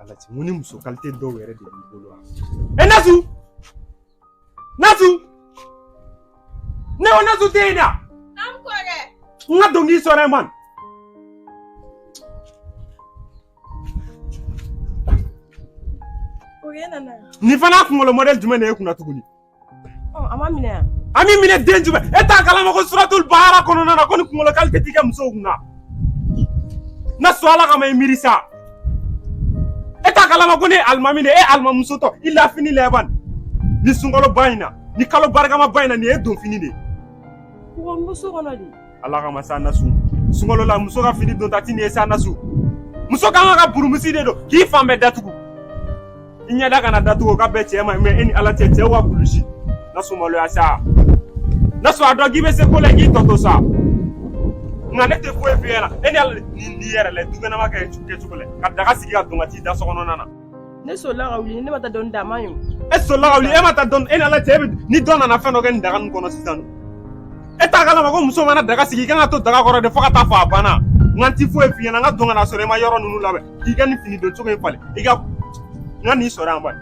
Ala cɛ mun ni muso kalite dɔw yɛrɛ de b'i bolo wa e nasu nasu ne ko nasu tɛ yen da An kɔrɔ n ka dɔnkili sɔrɔ yen man o ye nana nin fana kunkolo mɔdɛli jumɛn de y'i kun na tuguni an ma minɛ yan an b'i minɛ den jumɛn e t'a kalama ko suratul bahara kɔnɔna na ko nin kunkolo kalite ti kɛ musow kun na nasu ala kama i miiri sa e t'a kalama ko ne ye alimami de ye e alimamuso tɔ i la fini labɛn nin sunkalo ba in na nin kalo barikama ba in na nin ye e donfini de ye kɔgɔmuso kɔnɔ de ala kama sa nasu sunkalo la muso ka fini donta ti nin ye sa nasu muso ka kan ka burumusi de don k'i fan bɛɛ datugu i ɲɛda kana datugu o ka bɛɛ cɛɛ ma mɛ e ni ala cɛ cɛw ka kulusi nasu maloya sa nasu a dɔn k'i bɛ se ko la k'i tɔ to sa nka ne tɛ foyi f'i ɲɛna e ni ala ni yɛrɛ la dukɛnɛma kɛ kɛcogo la ka daga sigi ka don ka t'i da sokɔnɔna na ne sɔrɔla ka wuli ne ma taa dɔni dama ye e sɔrɔla ka wuli e ma taa dɔni e ni ala cɛ e bɛ ni dɔ nana fɛn dɔ kɛ nin daga nin kɔnɔ sisan e t'a kalama ko muso mana daga sigi i ka kan ka to daga kɔrɔ de fo ka taa fɔ a banna nka n ti foyi f'i ɲɛna n ka don ka n'a sɔrɔ i ma yɔrɔ ninnu labɛn k'i ka nin fini don cogo in falen i ka n ka nin sɔrɔ yan bani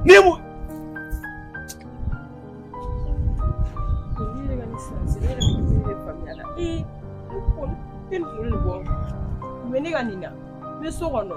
ni mu ne ka nin na n bɛ so kɔnɔ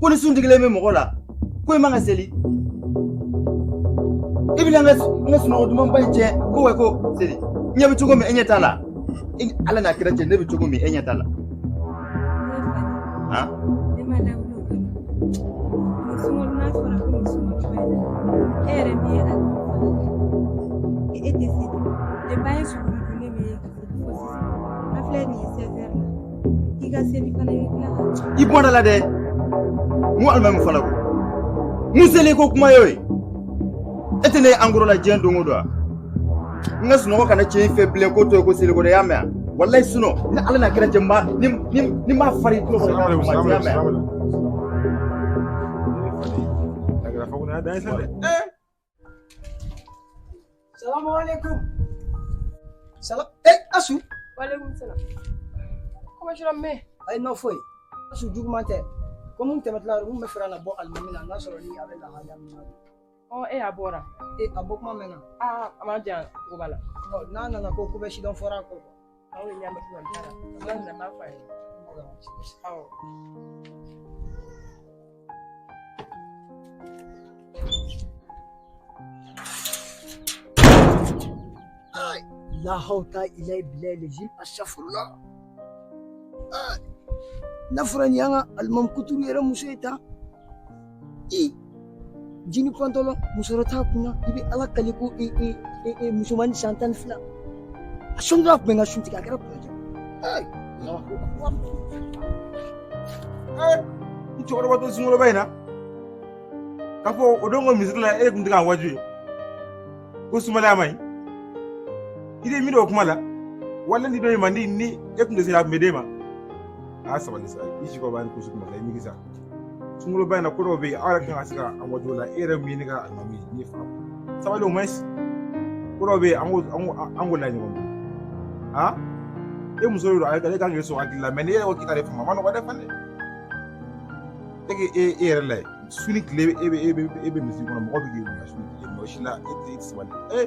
ko ni sun digilen bɛ mɔgɔ la ko i man kan ka seli i bɛna n ka n ka sunɔgɔ dumanba in tiɲɛ ko wa ko seli ne bɛ cogo min e ɲɛ t'a la ala n'a kira cɛ ne bɛ cogo min e ɲɛ t'a la han e yɛrɛ min ye a e tɛ se de ba ye sɔrɔ i bɔra la dɛ n ko alimami fana ko mun seliko kuma y'o ye e tɛ ne ye angoro la diɲɛ don o don wa n ka sunɔgɔ kana tiɲɛ i fɛ bilen ko to ye ko seliko dɛ y'a mɛn yan walayi sunɔ ni ala na kɛra cɛ n b'a ni ni ni n b'a fari i tulo kɔnɔ k'a kuma tiɲɛ y'a mɛn yan. Agora fogo na dança, né? Salamu alaikum. Salam. Eh, Nasu. Wa alaikum salam. Kuma shirin me? Ai, na foyi. A si juguman tɛ. Ko mun tɛmɛtila yɔrɔ mun bɛ fɛ ka na bɔ alimami na n'a sɔrɔ ni a bɛ lahalaya min na. Ɔ, e a bɔra. E, a bɔ kuma mɛnna. Aa, a ma jan ko b'a la. Ɔ, n'a nana ko ko bɛ sidɔn fɔra a kɔ. aw ye ɲamɛ fila baara ala nana b'a fɔ a ye awɔ lahaw ta ila bila lejim asafurula n'a fɔra nin y'an ka alimami kuturu yɛrɛ muso ye tan ee jini pantalɔn musɔrɔ t'a kunna i bɛ ala kali ko e e e e musomanni san tan ni fila a sɔnni a kun bɛ sun tigɛ a kɛra kunna jɔ n cɛkɔrɔba to sunkaloba in na k'a fɔ o don ko misiri la e kun tɛ k'an waaju ye ko sumalaya man ɲi i de miiri o kuma la wala ni dɔ in man di ni e kun tɛ se a kun bɛ d'e ma aa sabali sa i si kɔrɔbaya ni kusi kuma sa i migi sa sunkaloba in na ko dɔw bɛ yen aw yɛrɛ kan ka se ka a waajuw la e yɛrɛ min ne ka lamɛn ni fana sabali o ma ko dɔw bɛ yen an ko an ko an ko la ɲɔgɔn bolo a e muso de don ale kan k'i sɔn hakili la mɛ n'i yɛrɛ ko k'i ka de fama ma nɔgɔ dɛ fana e k'i e e yɛrɛ lajɛ su ni tile e bɛ e bɛ e bɛ misiri kɔnɔ mɔgɔ bɛ k'i bonya su ni tile mɔgɔ si la e tɛ sabali ee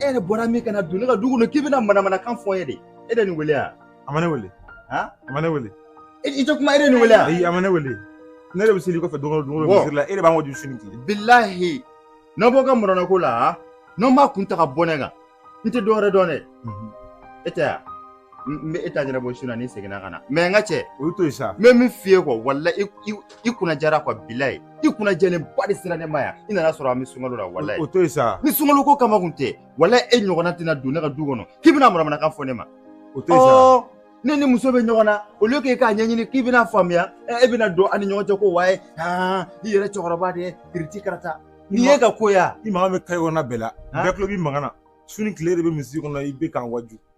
e yɛrɛ bɔra min ka na don ne ka du kɔnɔ k'i bɛna manamanakan fɔ n ye de e de nin wele yan a ma ne wele a ma ne wele i tɛ kuma e de nin wele yan ayi a ma ne wele ne de bɛ seli i kɔfɛ don o don misiri la e de b'an ka du sini k'i bilahi n'aw b'aw ka mɔrɔnako la n'aw m'a kun ta ka bɔ ne kan n tɛ dɔwɛrɛ dɔn dɛ e tɛ yan n bɛ e ta ɲɛnabɔ su na ni n seginna ka na mɛ n ka cɛ o to yen sa n bɛ min f'i ye quoi walayi i kunna jɛra quoi bilayi i kunna jɛlenba de sera ne ma yan i nana sɔrɔ an bɛ sunkalo la wala o to yen sa ni sunkalo ko kama kun tɛ wala e ɲɔgɔnna tɛna don ne ka du kɔnɔ k'i bɛna manamanakan fɔ ne ma o to yen sa ne ni muso bɛ ɲɔgɔn na au lieu k'e k'a ɲɛɲini k'i bɛna faamuya e bɛna don an ni ɲɔgɔn cɛ ko waye aa i yɛrɛ cɛkɔrɔba de ye kiriti karata nin ye ka ko ya i mankan bɛ kayi kɔnɔna bɛɛ la bɛɛ tulo b'i mankan na su ni tile de bɛ misiri kɔnɔ i bɛ k'an waaju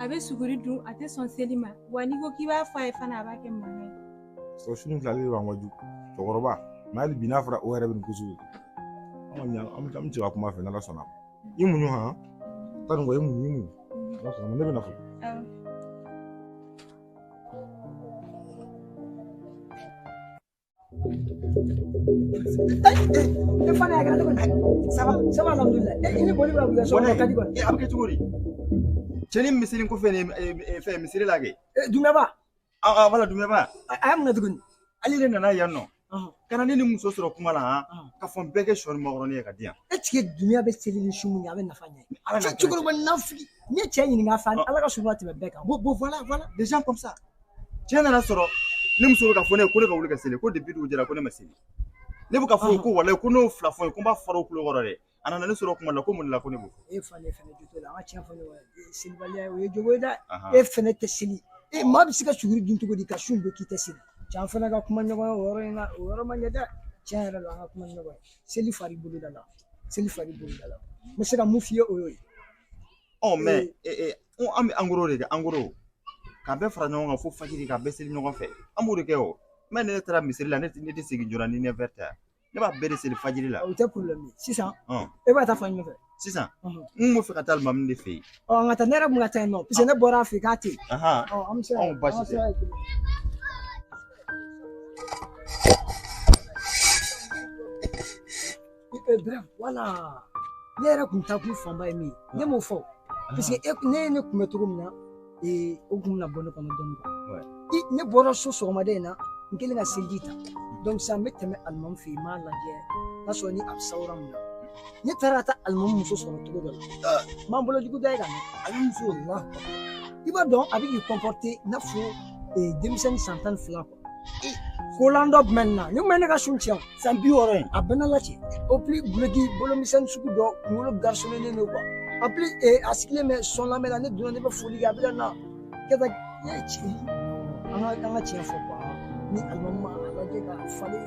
a bɛ suguri dun a tɛ sɔn seli ma wa n'i ko k'i b'a fɔ a ye fana a b'a kɛ mankan ye o sini filali de b'an ka du cɛkɔrɔba mɛ hali bi n'a fɔra o yɛrɛ bɛ nin kusu an kɔni an bɛ an bɛ cɛ ka kuma fɛ n'ala sɔnna i muɲu han ta nin kɔ i muɲu i muɲu ala sɔnna ne bɛ na fɔ e fana y'a kɛra cogo di saba saba alhamdulilah e ni boli bɛ wuli sɔgɔma ka di kɔni a bɛ kɛ cogo di cɛni misiri ko fɛn o fɛn misiri la kɛ dunaba a wala dunaba a y'a minɛ tuguni ale de nana yan nɔ ka na ne ni muso sɔrɔ kuma la han ka fɔ n bɛɛ kɛ sɔ ni makɔrɔni ye ka di yan e tigi dunya bɛ seli ni su mun ye a bɛ nafa ɲɛ cɛkɔrɔba nafigi n ye cɛ ɲininka a fɛ ala ka sutura tɛmɛ bɛɛ kan bon bon voilà voilà les gens comme ça cɛ nana sɔrɔ ne muso bɛ k'a fɔ ne ye ko ne ka wuli ka seli ko depi dugu jɛra ko ne ma seli ne bɛ k'a fɔ ko walayi ko n'o fila fɔ ye ko n b'a fara o kulo kɔrɔ dɛ a nana ne sɔrɔ kuma la ko mun la ko ne b'o fɔ e falen fɛnɛ jo t'o la an ka tiɲɛ fɔ ɲɔgɔn ye selibaliya o ye jogo ye dɛ e fɛnɛ tɛ seli e maa bɛ se ka suguri dun cogo di ka sun bɛɛ k'i tɛ seli cɛ an fana ka kuma ɲɔgɔn ye o yɔrɔ in na o yɔrɔ man ɲi dɛ tiɲɛ yɛrɛ la an ka kuma ɲɔgɔn ye seli fari bolo da la seli fari bolo da la n bɛ se ka min f'i ye o y'o ye ɔ mɛ ko an bɛ en gros de kɛ en gros ka bɛɛ fara ɲɔgɔn kan fo fajiri ka bɛɛ seli ɲɔgɔn fɛ an b'o de kɛ o mɛ ne taara misiri la ne tɛ ne tɛ segin joona ni ne fɛ ta ne b'a bɛɛ de seli fajiri la o tɛ sisan e bɛ taa fan jumɛn fɛ sisan n bɛ fɛ ka taa alimami de fɛ yen ɔ n ka taa ne yɛrɛ kun ka taa yen nɔ paseke ne bɔra a fɛ k'a tɛ yen an bɛ se ka baasi tɛ E, e, Bɛrɛm wala ne yɛrɛ kun taa kun fanba ye min ye ne m'o fɔ parce que ne ye ne kunbɛ cogo min na o kun bɛna bɔ ne kɔnɔ dɔɔni ne bɔra so sɔgɔmada in na n kɛlen ka seliji ta donc sisan n bɛ tɛmɛ alimami fɛ yen n b'a lajɛ n'a sɔrɔ ni a bɛ sawura min na ne taara ka taa alimami muso sɔrɔ cogo dɔ la n b'an bolo jugu da ye ka mɛn ale muso i b'a dɔn a bɛ k'i kɔnpɔrite i n'a fɔ denmisɛnnin san tan ni fila kolan dɔ b'a la ni mɛ ne ka sun tiɲɛ san bi wɔɔrɔ in a bɛɛ na lati o pili duloki bolomisɛnnin sugu dɔ kunkolo garisolenen don kuwa a pili a sigilen bɛ sɔn lamɛn na ne donna ne bɛ foli kɛ a bɛ ka na kɛ ka tiɲɛ an ka an ka tiɲɛ fɔ kuwa ni alimami ma a lajɛ ka falen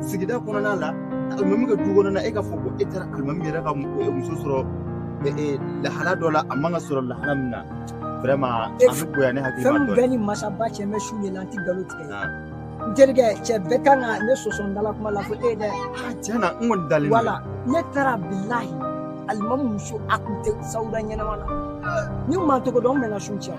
sigida kɔnɔna la alimami ka du kɔnɔna e ka fɔ ko e taara alimami yɛrɛ ka muso sɔrɔ lahala dɔ la a man ka sɔrɔ lahala min na vraiment e an bɛ bonya ne hakili ma dɔɔnin fɛn bɛɛ ni masaba cɛ n bɛ sun de la n tɛ nkalon tigɛ n terikɛ cɛ bɛɛ kan ka ne sɔsɔ n dala kuma la ko e dɛ tiɲɛ na n kɔni dalen wala ne taara bilahi alimami muso a tun tɛ sawura ɲɛnama la ni maa tɔgɔ dɔn n bɛna sun cɛn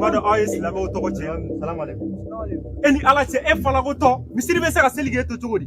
Badɔ aw ye silamɛw tɔgɔ cɛn e ni ala cɛ e falakotɔ misiri bɛ se ka seli e kɔ cogo di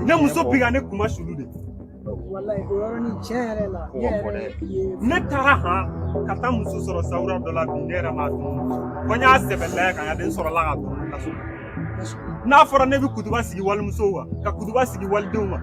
Ne muso bi ne kuma sulu de ne taara han ka taa muso sɔrɔ sawura dɔ la bi ne yɛrɛ ma dɔn ko n y'a sɛbɛn lajɛ ka n ka den sɔrɔla ka don n'a fɔra ne bɛ kutuba sigi walimusow kan ka kutuba sigi walidenw kan